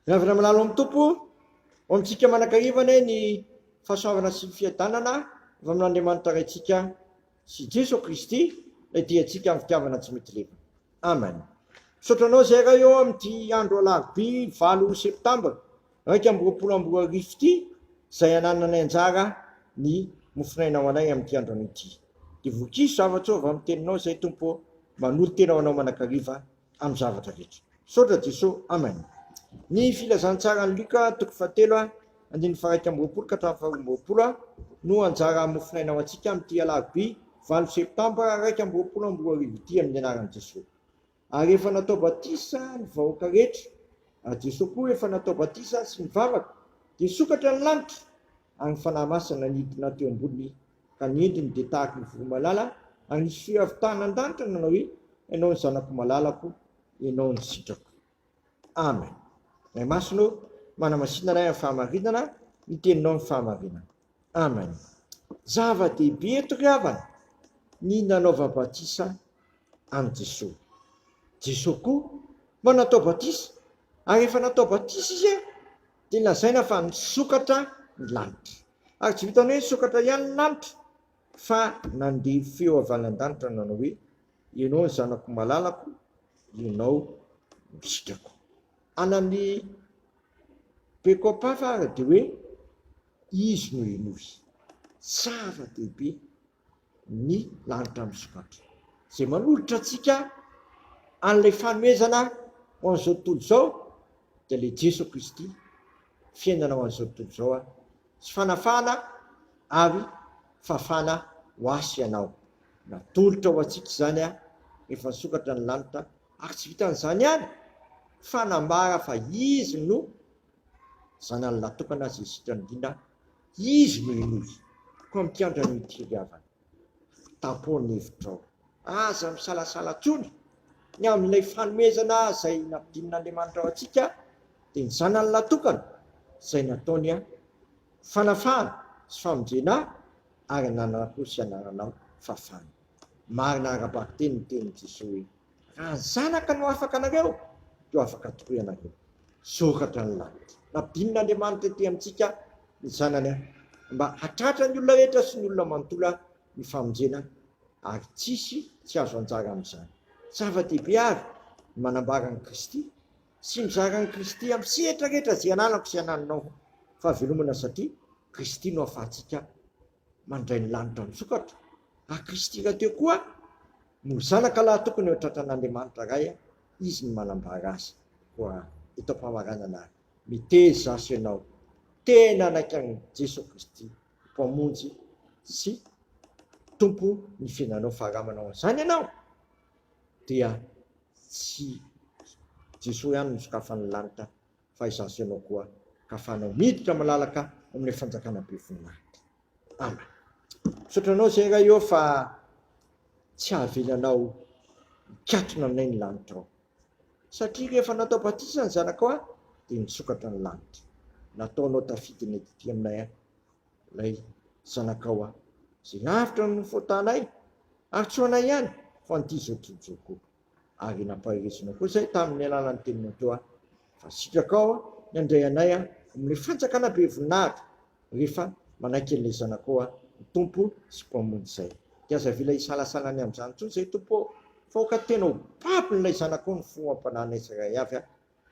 Miavona milalo amin'ny Tompo, ho amintsika manankahiva anie ny fahasoavana sy ny fiadanana avy amin'Andriamanitra Raintsika sy Jeso Kristy ilay Diantsika amin'ny fitiavana tsy mety levona. Amen. Misaotra anao izay Ray ô amin'ity andro alarobia valo septambra iraika amby roapolo amby roa arivo ity izay anananay anjara ny mofon'aina ho anay amin'ity andro anio ity. Dia voakizo zava-tsoa avy amin'ny teninao izay Tompo ô, manolo-tena ho anao manakariva amin'ny zavatra rehetra. Misaotra Jeso. Amen. Ny filazantsaran'i Luka toko fahatelo andininy faharaika amby roapolo ka hatramin'ny faharoa amby roapolo no anjara mofonaina ho antsika amin'ity alarobia valo septambra iraika amby roapolo amby roa arivo ity amin'ny anaran'i Jeso. Ary efa natao batisa ny vahoaka rehetra. Ary Jeso koa efa natao batisa sy nivavaka dia sokatra ny lanitra ary ny Fanahy Masina nidina teo ambony Ka ny endriny dia tahaka ny voromalala agny sy avy tany an-danitra nanao hoe, Ianao ny Zanako malalako, Ianao no sitrako. Amen. Ray Masina ô, manamasina Ray amin'ny fahamarinana ny Teninao amin'ny fahamarinana. Amen. Zava-dehibe eto ry havana ny nanaova batisa an'i Jesoa. Jesoa koa manatao batisa ary rehefa natao batisa Izy dia lazaina fa nisokatra ny lanitra. Ary tsy vitan'ny hoe nisokatra ihany ny lanitra fa nandeha feo avy any an-danitra nanao hoe, Ianao no Zanako malalako, Ianao no sitrako. Anan'ny Bekopafa ary dia hoe, Izy no henoy. Zava-dehibe. ny lanitra misokatra, izay manolotra antsika an'ilay fanomezana ho an'izao tontolo izao, dia ilay Jeso Kristy, fiainana ho an'izao tontolo izao sy fanafahana ary fahafahana ho ahy sy ianao. Natolotra ho antsika izany rehefa nisokatra ny lanitra, ary tsy vitan'izany ihany fa nambara fa Izy no Zanany lahy tokana izay sitrana indrindra Izy no henoy, mpampiandry an'io tiriavana. Tapoho ny hevitrao. Aza misalasala intsony. Ny amin'ilay fanomezana izay nampidinin'Andriamanitra ho antsika, dia ny Zanany natokana, izay nataony fanafahana sy famonjena ahy ary nanana-po sy anananao fahafahana. Marina ara-bakiteny ny tenin'i Jesoa hoe. Raha ny Zanaka no afaka anareo, dia ho afaka tokoa ianareo. Soratra ny lanitra. Nampidinin'Andriamanitra ety amintsika ny Zanany mba hahatratra ny olona rehetra sy ny olona manontolo ny famonjena ary tsy hisy tsy hahazo anjara amin'izany. Zava-dehibe àry ny manambara an'i Kristy sy mizara an'i Kristy amin'ny sehatra rehetra izay ananako sy anananao. Fahavelomana satria Kristy no ahafahantsika mandray ny lanitra misokatra, raha Kristy rahateo koa no zanaka lahy tokony ho tratran' Andriamanitra Ray, Izy no manambara azy, koa eto am-pamaranana ary, miteza aso ianao, tena hanaiky an'i Jesoa Kristy ho Mpamonjy sy Tompo ny fiainanao, fa raha manao an'izany ianao, dia tsy Jesoa ihany no sokafan'ny lanitra, fa izaho sy ianao koa ka fanao miditra malalaka amin'ilay fanjakana be voninahitra. Amen. Misaotra anao Seigneur Ray ô fa tsy havelanao mikatona anay ny lanitra ao. Satria rehefa natao batisa ny zanakao aho dia nisokatra ny lanitra. Nataonao tafiditra ny atity aminay aho. Ilay zanakao aho. Izay lavitra no fotanay ary tsy ho anay ihany fa an'ity izao tojo koa. ary nampaherezana koa izay tamin'ny alalan'ny tenin'Atoa ahy fa sitrakao ny handray anay amin'ny fanjakana be voninahitra rehefa manaiky an'ilay Zanakao aho ho Tompo sy Mpamonjy izay. Dia aza avela hisalasala ny amin'izany intsony izay Tompo ô! Fa aoka tena ho babon'ilay Zanakao ny fo ampananay tsirairay avy aho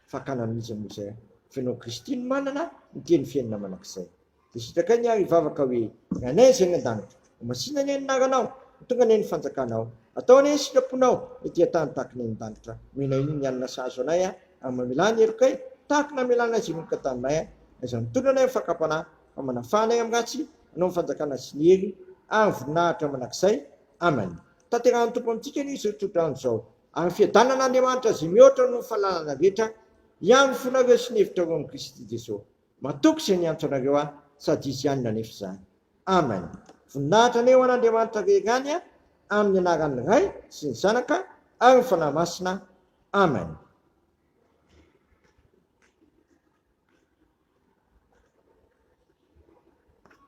fakana mihintsy anie zay a! Fa ianao Kristy no manana ny teny fiainana manak'izay. Dia sitrakay ny ahy hivavaka hoe, Ny Anay izay any an-danitra, ho masina anie ny anaranao, ho tonga anie ny fanjakanao, atao anie ny sitraponao ety an-tany tahaka ny any an-danitra. Omena iny ny hanina sahaza anay a! ary mamelà ny herokay tahaka ny namelanay izay manomboka taminay a! Aiza no tolona anay amin'ny fakam-panahy, fa manafaha anay amin'ny ratsy anao ny fanjakana sy ny hery ary ny voninahitra manak'izay. Amen. Tanterahan'ny Tompo amintsika anie izao tsodrano izao. Ary ny fiadanan'Andriamanitra izay mihoatra noho ny fahalalana rehetra, hiano fonareo sy ny hevitrareo amin'i Kristy Jesoa. Matoky izay niantso anareo aho, sady Izy ihany nanefa izany. Amen. Voninahitra anie ho an'Andriamanitra rery ihany amin'ny anaran'ny Ray sy ny Zanaka ary ny Fanahy Masina. Amen.